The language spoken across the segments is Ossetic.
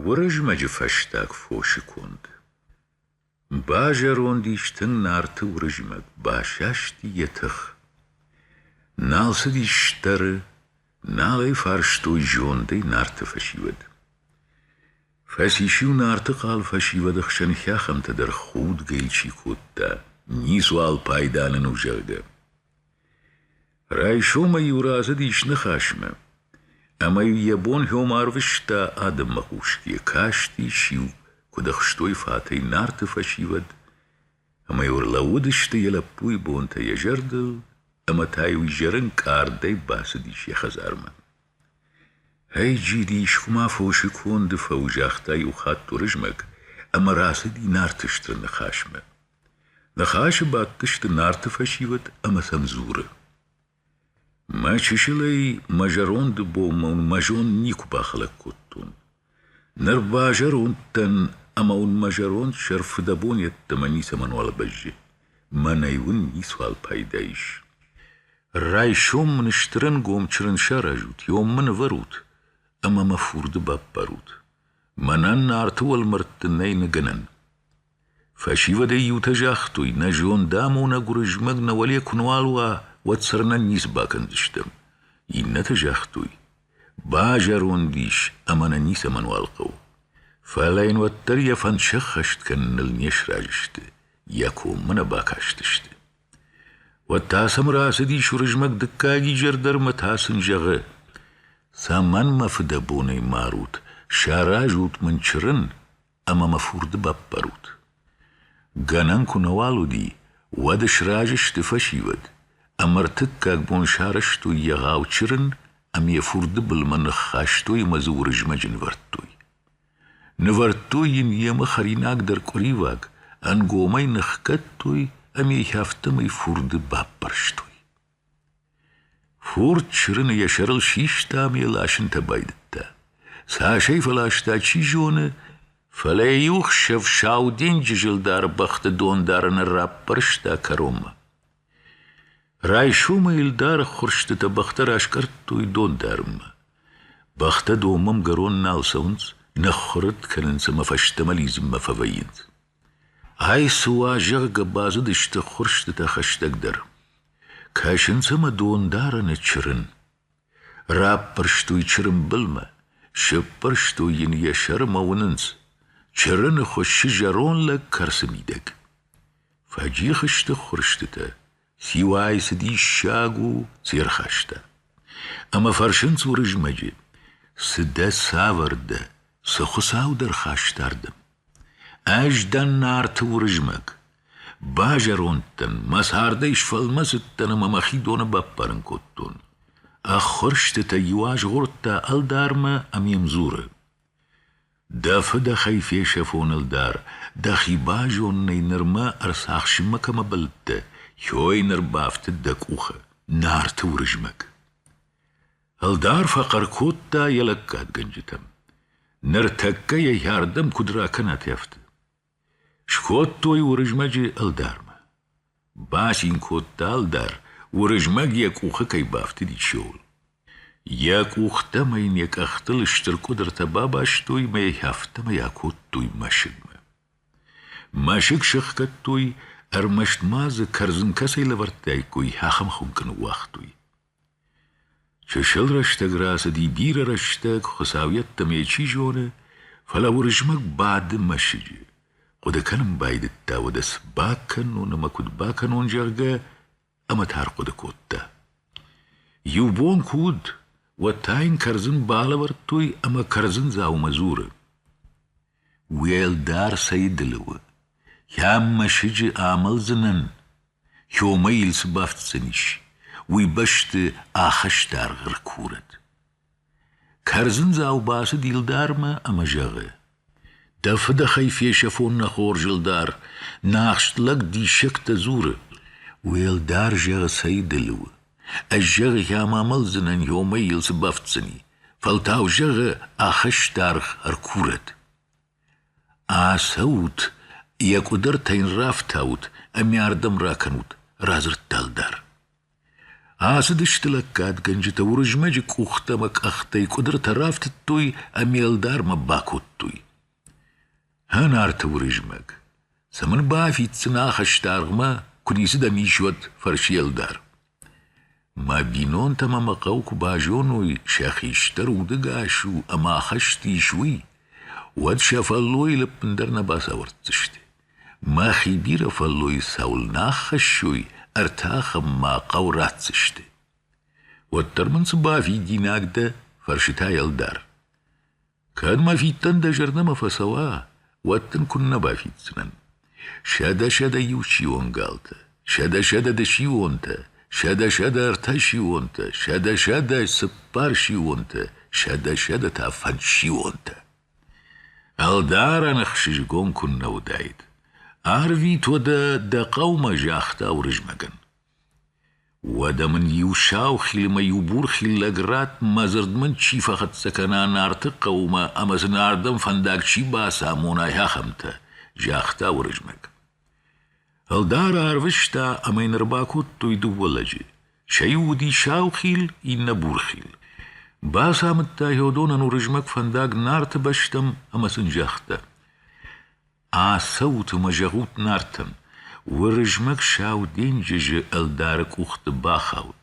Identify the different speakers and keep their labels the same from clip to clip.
Speaker 1: Уырызмӕджы фӕстаг фосы конд. Базӕронд ис тынг Нарты Уырызмӕг, басасти йӕ тых. Нал цыдис стӕры, нал ӕй фарстой зондӕй Нарты фӕсивӕд. Фӕцис-иу Нарты хъал фӕсивӕды хсӕн хӕхӕмтӕ дӕр худгӕ чи кодта, ницуал пайда нын у, зӕгъгӕ. Райсомӕй-иу рацыдис ныхасмӕ, ӕмӕ-иу йӕ бон-хьом арвыста адӕммӕ хъус, йӕ кастис-иу куыд ӕхстой фатӕй Нарты фӕсивӕд, ӕмӕ-иу ӕрлӕууыдысты йӕ лӕппуйы бонтӕ йӕ зӕрдыл, ӕмӕ та-иу изӕрын къардӕй бацыдис йӕ хӕдзармӕ. Ӕй-джиди исхуымӕ фосы конды фӕуы, загъта иу хатт Уырызмӕг, ӕмӕ рацыди Нарты стыр ныхасмӕ. Ныхасы бадтысты Нарты фӕсивӕд ӕмӕ сӕм дзуры: Мӕ чысылӕй мӕ зӕронды бон мӕ зонд никуы бахӕлӕг кодтон. Ныр базӕронд дӕн ӕмӕ уын мӕ зӕронд сӕр фыдӕбон йеддӕмӕ ницӕмӕнуал бӕззы. Мӕнӕй уын ницуал пайда ис. Райсом мын стырӕнгом чырын саразут, ом мын ӕвӕрут ӕмӕ мӕ фурды баппарут. Мӕнӕн Нарты уӕлмӕрдты нӕй ныгӕнӕн. Фӕсивӕдӕй иутӕ загътой, нӕ зондамонӕг Уырызмӕг нӕ уӕле куы нуал уа, уӕд цырнӕн ницы бакӕндзыстӕм. Иннӕтӕ загътой, базӕронд ис ӕмӕ нӕ ницӕмӕнуал хъӕуы. Фӕлӕ йын уӕддӕр йӕ фӕнд сӕххӕст кӕныныл не сразы сты, йӕ коммӕ нӕ бакастысты. Уӕд та сӕм рацыдис Уырызмӕг дыккаг изӕр дӕр мӕ та сын зӕгъы, цӕмӕн мӕ фыдӕбонӕй марут, саразут мын чырын, ӕмӕ мӕ фурды баппарут. Гӕнӕн куы нӕуал уыди, уӕд сразы сты фӕсивӕд, ӕмӕ ӕртыккаг бон сарӕзтой йӕ гъӕу чырын ӕмӕ йӕ фурды былмӕ ныххастой ӕмӕ дзы Уырызмӕджы нывӕрдтой. Нывӕрдтой йын йемӕ хӕринагдӕр къуыриваг, ӕнгомӕй ныхгӕдтой ӕмӕ йӕ афтӕмӕй фурды баппӕрстой. Фурд чырыны йӕ сӕрыл систа ӕмӕ йӕ ласынтӕ байдыдта. Цасӕй фӕласта, чи зоны, фӕлӕ йӕ иу хсӕв Сау денджызы лдар бӕхты дондарыны раппӕрста кӕронмӕ. Райсомӕй ӕлдары ххуырстытӕ бӕхтӕ раскъӕрдтой дондарынмӕ. Бӕхтӕ домӕмгӕрон нал цӕуынц, нӕ ххуырыд кӕнынц ӕмӕ фӕстӕмӕ лидзынмӕ фӕвӕййынц. Ай цы уа, зӕгъгӕ, базыдысты ххуырстытӕ хӕстӕгдӕр. Кӕсынц ӕмӕ дондарӕны чырын. Раппӕрстой чырын былмӕ, сыппӕрстой йын йӕ сӕрмӕ уынынц. Чырыны хуыссы зӕронд лӕг кӕрцы мидӕг. Фӕджих сты ххуырстытӕ, Сиуӕй цы диссаг у се рхаста. Ӕмӕ фӕрсынц Уырызмӕджы, цы дӕ цавӕр дӕ, цы хуыцау дӕ рхаста ардӕм? Ӕз дӕн Нарты Уырызмӕг. Базӕронд дӕн, мӕ цардӕй сфӕлмӕцыдтӕн ӕмӕ мӕхи доны баппарын кодтон. Ӕххуырстытӕ иу азгъордта ӕлдармӕ ӕмӕ йӕм дзуры: Дӕ фыдӕхӕй фесӕфоныл дӕр дӕхи базонынӕй нырмӕ ӕрцахсынмӕ кӕмӕ бӕлдтӕ, йой ныр бафтыд дӕ къухы Нарты Уырызмӕг. Ӕлдар фӕхъӕр кодта йӕ лӕггадгӕнджытӕм: Ныртӕккӕ йӕ йӕрдӕм куыд ракӕнат ӕфты? Скодтой Уырызмӕджы ӕлдармӕ. Бацин кодта ӕлдар, Уырызмӕг йӕ къухы кӕй бафтыдис, ууыл. Йӕ къухтӕм ын йӕ къӕхтыл стыр къуыдыртӕ бабастой мӕ афтӕмӕй акодтой мӕсыгмӕ. Мӕсыг сӕхгӕдтой, ӕрмӕст ма дзы кӕрдзын кӕцӕй лӕвӕрдтаиккой, ахӕм хуынкъ ныууагътой. Чысыл рӕстӕг рацыди бирӕ рӕстӕг, Хуыцау йеддӕмӕ йӕ чи зоны, фӕлӕ Уырызмӕг бады мӕсыджы. Хъуыды кӕнын байдыдта, уӕдӕ цы бакӕнон ӕмӕ куыд бакӕнон, зӕгъгӕ, ӕмӕ та ӕрхъуыды кодта. Иу бон куы уыд, уӕд та йын кӕрдзын балӕвӕрдтой ӕмӕ кӕрдзындзаумӕ дзуры. Уӕлдӕр цӕйдылы у, йӕм мӕсыджы амӕлдзынӕн, Иомӕ йыл цы бафтдзӕнис, уый бӕсты ахӕсты дӕргъ ӕркурӕд. Кӕрдзындзау бацыд Илдармӕ ӕмӕ зӕгъы: Дӕ фыдӕхӕй фесӕфон нӕ хорз, Илдар, нӕ ахст лӕг диссӕгтӕ дзуры. Уӕлдӕр, зӕгъы, цӕйдылы у, Ӕз, зӕгъы, гъема мӕлдзынӕн, иомӕй йыл цы бафтдзӕни, фӕлтау, зӕгъы, ахӕсты аргъ ӕркурӕд. Ацӕут, йӕ къуыдыртӕ йын рафтаут ӕмӕ ардӕм ракӕнут, радзырдта ӕлдар. Ацыдысты лӕггадгӕнджытӕ Уырызмӕджы къухтӕ ӕмӕ къӕхтӕй къуыдыртӕ рафтыдтой ӕмӕ ӕлдармӕ бакодтой. Ӕ Нарты Уырызмӕг, сӕ мын бафиддзынӕ хӕсдаргъмӕ, куы ницы дӕм ис уӕд фӕрсы ӕлдар. Мӕ бинонтӕ мӕ мӕ хъӕу куы базоной, сӕ хистӕр удӕгас у ӕмӕ ахӕст ис уый, уӕд сӕ фӕллойы лӕппын дӕр нӕ бацауӕрддзысты. Мӕхи бирӕ фӕллойы цӕуылнӕ аххӕссой, ӕртӕ ахӕм мӕ хъӕу ратдзысты. Уӕддӕр мын цы бафидинаг дӕ? фӕрсы та ӕлдар. Кӕд мӕ фидтӕн дӕ зӕрдӕмӕ фӕцӕуа, уӕд дын куыннӕ бафиддзынӕн. Сӕдӕ-сӕдӕ иу сион галтӕ, сӕдӕ-сӕдӕ дысионтӕ, сӕдӕ-сӕдӕ ӕртӕ сионтӕ, сӕдӕ-сӕдӕ цыппар сионтӕ, сӕдӕ-сӕдӕ та фӕдсионтӕ. Ӕлдарӕн ӕхсызгон куыннӕ уыдаид. Арвит уӕдӕ дӕ хъӕумӕ, загъта Уырызмӕгӕн. Уӕдӕ мын иу саухилмӕ иу бурхил лӕг ратт, мӕ дзырд мын чи фӕхӕццӕ кӕна Нарты хъӕумӕ ӕмӕ дзы Нардӕн фӕндаг чи бацамонай, ахӕмтӕ, загъта Уырызмӕг. Ӕлдар арвыста ӕмӕ йын ӕрбакодтой дыууӕ лӕджы. Сӕ иу уыди саухил, иннӕ бурхил. Бацамыдта Йодонӕн Уырызмӕг фӕндаг Нарты бӕстӕм ӕмӕ сын загъта: Ацӕут ӕмӕ зӕгъут Нартӕн, Уырызмӕг Сау денджызы ӕлдары къухты бахауд,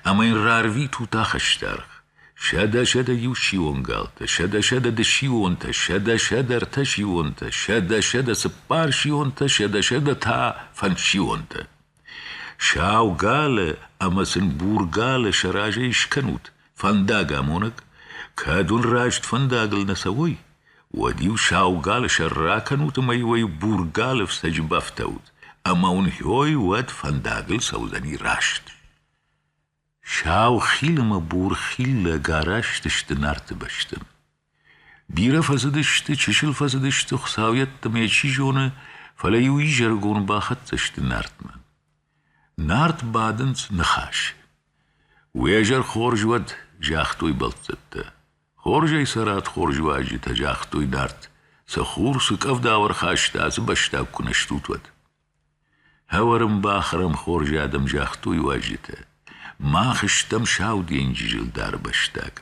Speaker 1: ӕмӕ йын рарвитут ахӕстаргъ. Сӕдӕ-сӕдӕ иу сионгалтӕ, сӕдӕ-сӕдӕ дысионтӕ, сӕдӕ-сӕдӕ ӕртӕ сионтӕ, сӕдӕ-сӕдӕ цыппар сионтӕ, сӕдӕ-сӕдӕ та фӕндсионтӕ. Сау галы ӕмӕ сын бургалы сӕ разӕй скӕнут фӕндагамонӕг, кӕд уын раст фӕндагыл нӕ цӕуой, уӕд-иу сау галы сӕр ракӕнут ӕмӕ уӕ бургалы фцӕджы бафтаут, ӕмӕ уын хьой уӕд фӕндагыл цӕудзӕни раст. Сау хил ӕмӕ бурхил лӕг араст сты Нарты бӕсты. Бирӕ фӕцыдысты, чысыл фӕцыдысты Хуыцауйӕдты мӕ чи зоны, фӕлӕ-иу изӕрыгон бахӕццӕ сты Нартмӕ. Нарт бадынц ныхас. Уӕ зӕр хорз уӕд, загътой бӕлццӕттӕ. Хорзӕй цӕрӕд хорзуӕзджытӕ, загътой Нарт. Сӕ хур цы къӕвда ӕрхаста, ацы бӕстаг куы нӕ стут, уӕд. Хӕуӕрмбӕх ӕрӕм хорз адӕм загътой уазджытӕ. Мах стӕм Сау денджызы ӕлдары бӕстаг.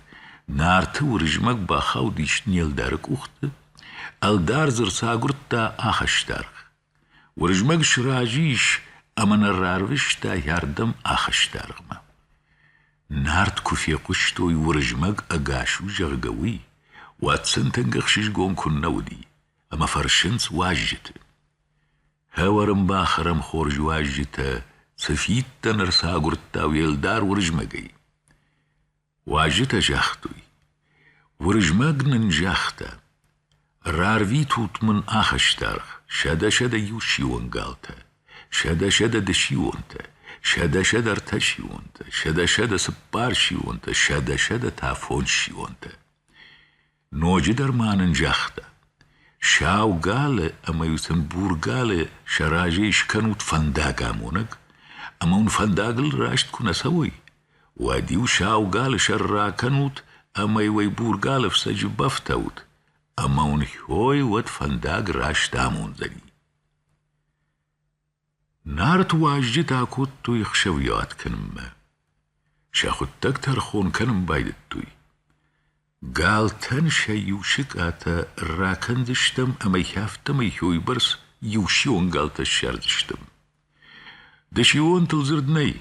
Speaker 1: Нарты Уырызмӕг бахаудис не лдары къухты, ӕлдар дзы рцагуырдта ахӕстаргъ. Уырызмӕг сразы ис ӕмӕ нӕ рарвыста йӕрдӕм ахӕстаргъмӕ. Нарт куы фехъуыстой, Уырызмӕг ӕгас у, зӕгъгӕ, уый, уӕд сынтӕг ӕхсызгон куыннӕ уыди, ӕмӕ фӕрсынц уазджыты. Хӕуӕрын бӕх ӕрӕм хорз уазджытӕ цы фидтӕн ӕрцагуырдта уӕлдӕр Уырызмӕгӕй. Уазджытӕ загътой: Уырызмӕг нын загъта: «Рарвитут мын ахӕстаргъ, сӕдӕ-сӕдӕ-иу сион галтӕ, сӕдӕ-сӕдӕ дысионтӕ, сӕдӕ-сӕдӕ ӕртӕ сионтӕ, сӕдӕ-сӕдӕ цыппар сионтӕ, сӕдӕ-сӕдӕ та фондз сионтӕ». Ноджыдӕр ма нын загъта: сау галы ӕмӕ-иу сын бургалы сӕ разӕй скӕнут фӕндагамонӕг, ӕмӕ уын фӕндагыл раст куы нӕ цӕуой, уӕд-иу сау галы сӕр ракӕнут ӕмӕ-иу ӕй бургалы фцӕджы бафтаут, ӕмӕ уын хьой уӕд фӕндаг раст амондзӕни. Нарт уазджытӕ акодтой ӕхсӕвйуат кӕнынмӕ. Сӕ хуыддӕг тӕрхон кӕнын байдыдтой. Галтӕн сӕ иу сыкъатӕ ракӕндзыстӕм ӕмӕ йӕ афтӕмӕй хойбӕрц иусион галтӕ ссардзыстӕм. Дысионтыл дзырд нӕй,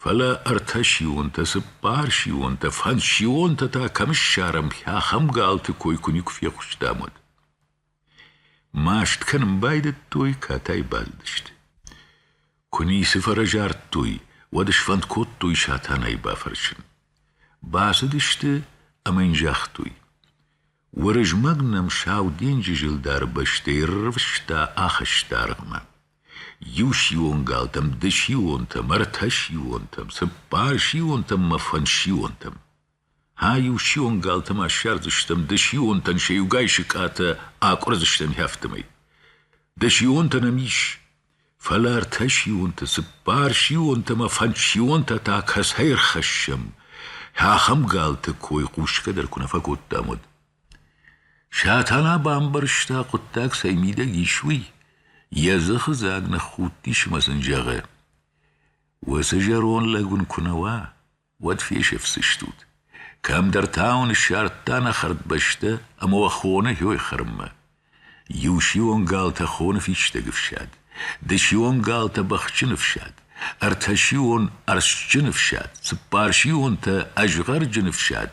Speaker 1: фӕлӕ ӕртӕсионтӕ, цыппарсионтӕ, фӕнссионтӕ та кӕм ссарӕм, ахӕм галты кой куы никуы фехъуыстам, уӕд. Маст кӕнын байдыдтой, катай бадыдысты. Куы ницы фӕрӕзардтой, уӕд сфӕнд кодтой Сатанайы бафӕрсын. Бацыдысты ӕмӕ йын загътой. Уырызмӕг нӕм Сау денджызы лдары бӕстӕй рывста ахызта аргъмӕ. Иусион галтӕм, дысионтӕм, ӕртӕсионтӕм, цыппарсионтӕм мӕ фӕнсионтӕм. Ай-иу сион галты ма ссардзыстӕм, ды сионтӕн сӕ иугай сыкъатӕ акъуырдзыстӕм хӕ фтымӕй. Ды сионтӕ нӕм ис, фӕлӕ ӕртӕ сионты, цыппар сионтӕ ӕмӕ фӕндз сионтӕ та кӕцӕй ӕрхӕссӕм, ахӕм галты кой хъусгӕ дӕр куы нӕ фӕкодтам, уӕд. Сатана бамбӕрста, хъуыддаг цӕй мидӕг ис, уый, йӕ дзыхы дзаг ныххудтис ӕмӕ сын зӕгъы: — Уыцы зӕронд лӕг уын куы нӕ уа. уӕд фесӕфдзыстут. Кӕмдӕр та уын ссардта нӕ хӕрдбӕстӕ ӕмӕ уӕ хоны хьой хӕрынмӕ. Иу сион галтӕ хоны фистӕг ӕфсад, дысион галтӕ бӕхджын ӕфсад, ӕртӕ сион ӕрстджын ӕфсад, цыппар сионтӕ ӕзгъӕрджын ӕфсад,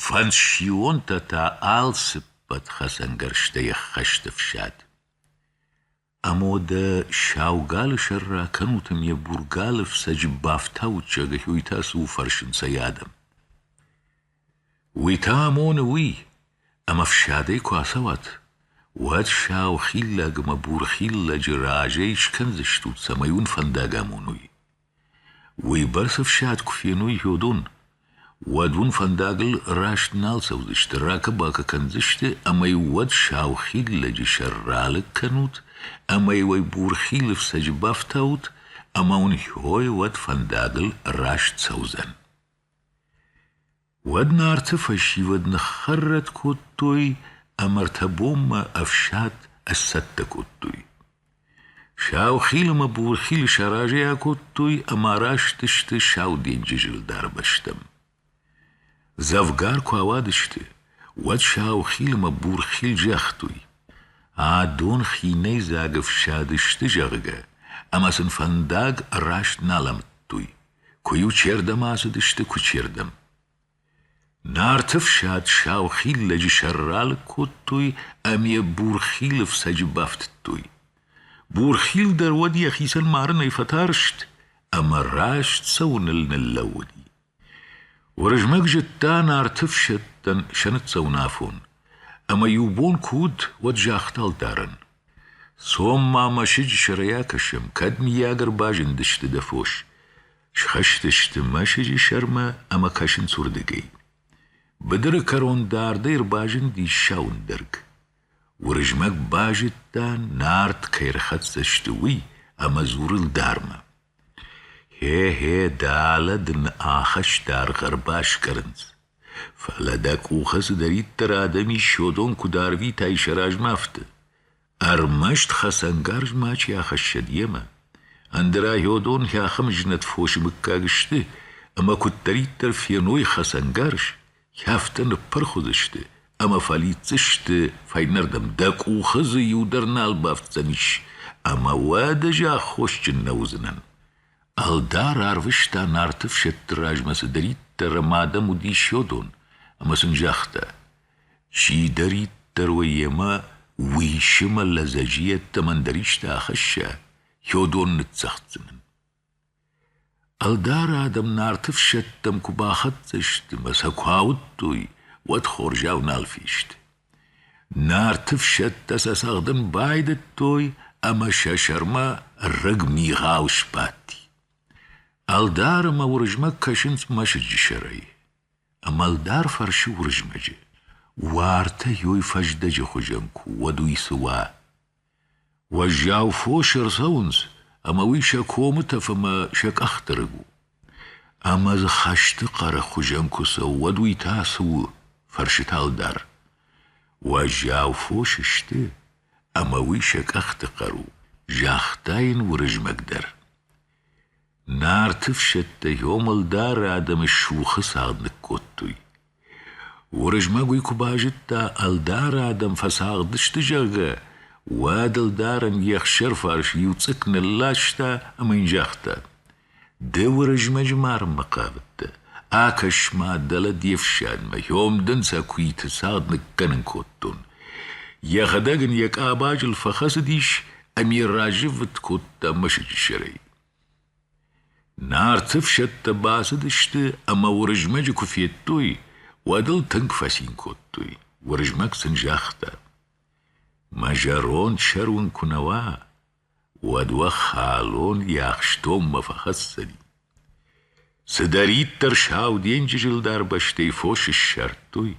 Speaker 1: фӕндз сионтӕ та алцыппӕт хӕцӕнгӕрзтӕй ӕххӕст ӕфсад. Ӕмодӕ сау галы сӕр ракӕнут ӕмӕ йӕ бургалы фцӕджы бафтауут, зӕгъы Хьойтӕ цы у фӕрсынц ӕй адӕм. Уый та амоны уый, ӕмӕ фсадӕй куы ацӕуат, уӕд сау хиллӕг ӕмӕ бурхиллӕджы разӕй скӕндзыстут, цӕмӕй уын фӕндаг амоной. Уыйбӕрц ӕфсад куы феной Федон, уӕд уын фӕндагыл раст нал цӕудзысты, ракӕ-бакӕ кӕндзысты ӕмӕ уӕд сау хид лӕджы сӕр ралыг кӕнут ӕмӕ уӕ бурхилы фцӕджы бафтаут, ӕмӕ уын хьой уӕд фӕндагыл раст цӕудзӕн. Уӕд Нарты фӕсивӕд ныххӕррӕтт кодтой ӕмӕ ӕртӕ бонмӕ ӕфсад ӕсцӕттӕ кодтой. Саухил ӕмӕ Бурхил сӕ разӕй акодтой ӕмӕ араст сты Сау денджызы лдар бӕстӕм. Дзӕвгар куы ауадысты, уӕд Саухил ӕмӕ Бурхил загътой: «Адон хинӕйдзаг ӕфсад сты, зӕгъгӕ, ӕмӕ сын фӕндаг раст нал амыдтой. Куы-иу чердӕм ацыдысты, куы чердӕм. Нарты фсад сау хиллӕджы сӕр ралыг кодтой ӕмӕ йӕ бурхилы фцӕджы бафтыдтой. Бурхил дӕр уӕд йӕхицӕн марынӕй фӕтарст ӕмӕ раст цӕуыныл ныллӕууыди. Уырызмӕг зыдта нарты фсӕдтӕн сӕ ныццӕуынафон, ӕмӕ иу бон куы уыд, уӕд загъта ӕлдарӕн: Цом ма мӕсыджы сӕрӕй акӕсӕм, кӕд, мыййаг, ӕрбазындысты дӕ фос. Схызтысты мӕсыджы сӕрмӕ ӕмӕ кӕсынц уырдыгӕй. Быдыры кӕрон дардӕй ӕрбазындис сауындӕрг. Уырызмӕг базыдта, Нарт кӕй ӕрхӕццӕ сты, уый, ӕмӕ дзуры лдармӕ. Гье-гье, дӕлӕ дын ахӕсты дӕргъ ӕрбаскъӕрынц, фӕлӕ дӕ къухы цыдӕриддӕр адӕм исчодон куыд арвитай сӕ размӕ, афтӕ. ӕрмӕст хӕцӕнгарз мачи ахӕссӕд йемӕ. Ӕндӕра Гьодон хӕхымы знӕт фосы мыггаг сты, ӕмӕ куыддӕриддӕр феной хӕцӕнгарз, Кӕфты ныппырх уыдзысты ӕмӕ фӕлидздзысты, фӕйнӕрдӕм дӕ къухы дзы иу дӕр нал бафтдзӕнис, ӕмӕ уӕдӕ ӕз аххосджын нӕ уыдзынӕн. Ӕлдар арвыста нарты фсӕдты размӕ цыдӕриддӕр ӕмӕ адӕм уыдис йодон, ӕмӕ сын загъта: «Чидӕриддӕр уӕ йемӕ уисы мӕ лӕдзӕджы йеддӕмӕ ӕндӕр исты ахӕсса, йодон ныццӕгъддзынӕн». Ӕлдары адӕм Нарты фсӕдтӕм куы бахӕццӕ сты мӕ сӕ куы ауыдтой, уӕд хорзӕх нал фесты. Нарты фсӕдтӕ сӕ цӕгъдын байдыдтой ӕмӕ сӕ сӕрмӕ рыг мигъау сбадти. Ӕлдары мӕ Уырызмӕг кӕсынц мӕсыджы сӕрӕй. Ӕмӕ ӕлдар фӕрсы Уырызмӕджы: Уартӕ ёй фӕздӕджы хуызӕн куы уӕд уый цы уа? Уӕззау фосы ӕрцӕуынц, ӕмӕ уый сӕ комы тӕф ӕмӕ сӕ къӕхты рыг у. Ӕмӕ дзы хӕсты хъӕры хуызӕн куы цӕуы, уӕд уый та цы у? фӕрсыд ӕлдар. Уӕззау фос сты, ӕмӕ уый сӕ къӕхты хъӕр у, загъта йын Уырызмӕг дӕр. Нарты фсӕдтӕ Ёмӕлдары адӕмы сухы цагъд ныккодтой. Уырызмӕг уый куы базыдта, ӕлдары адӕм фӕцагъдысты, зӕгъгӕ, уӕд ӕлдарӕн йе хсӕрфарс иу цъыкк нылласта ӕмӕ йын загъта: «Ды Уырызмӕджы марынмӕ хъавыдтӕ, акӕс-ма, дӕлӕ де фсадмӕ, ём дын сӕ куиты цагъд ныккӕнын кодтон». Йӕхӕдӕг ын йӕ къабазыл фӕхӕцыдис ӕмӕ разыввытт кодта мӕсыджы сӕрӕй. Нарты ӕфсӕдтӕ бацыдысты ӕмӕ Уырызмӕджы куы федтой, уӕд ыл тынг фӕцин кодтой. Уырызмӕг сын загъта: Мӕ зӕронд сӕр уын куы нӕ уа, уӕд уӕ халон йӕ ахстонмӕ фӕхӕсдзӕни. Цыдӕриддӕр Сау денджызы ӕлдар бӕстӕйы фос ссардтой,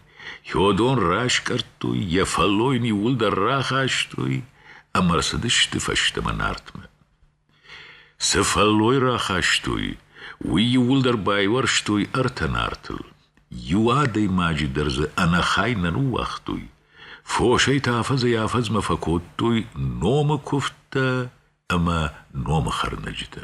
Speaker 1: Хёдон раскъӕрдтой, йӕ фӕллой ниууылдӕр рахастой ӕмӕ рцыдысты фӕстӕмӕ Нартмӕ. Цы фӕллой рахастой, уый иууылдӕр байуӕрстой ӕртӕ Нартыл. Иу адӕймаджы дӕр дзы ӕнӕхай нӕ ныууагътой. Фосӕй та афӕдзӕй-афӕдзмӕ фӕкодтой номы куывдтӕ ӕмӕ номы хӕрнӕджытӕ.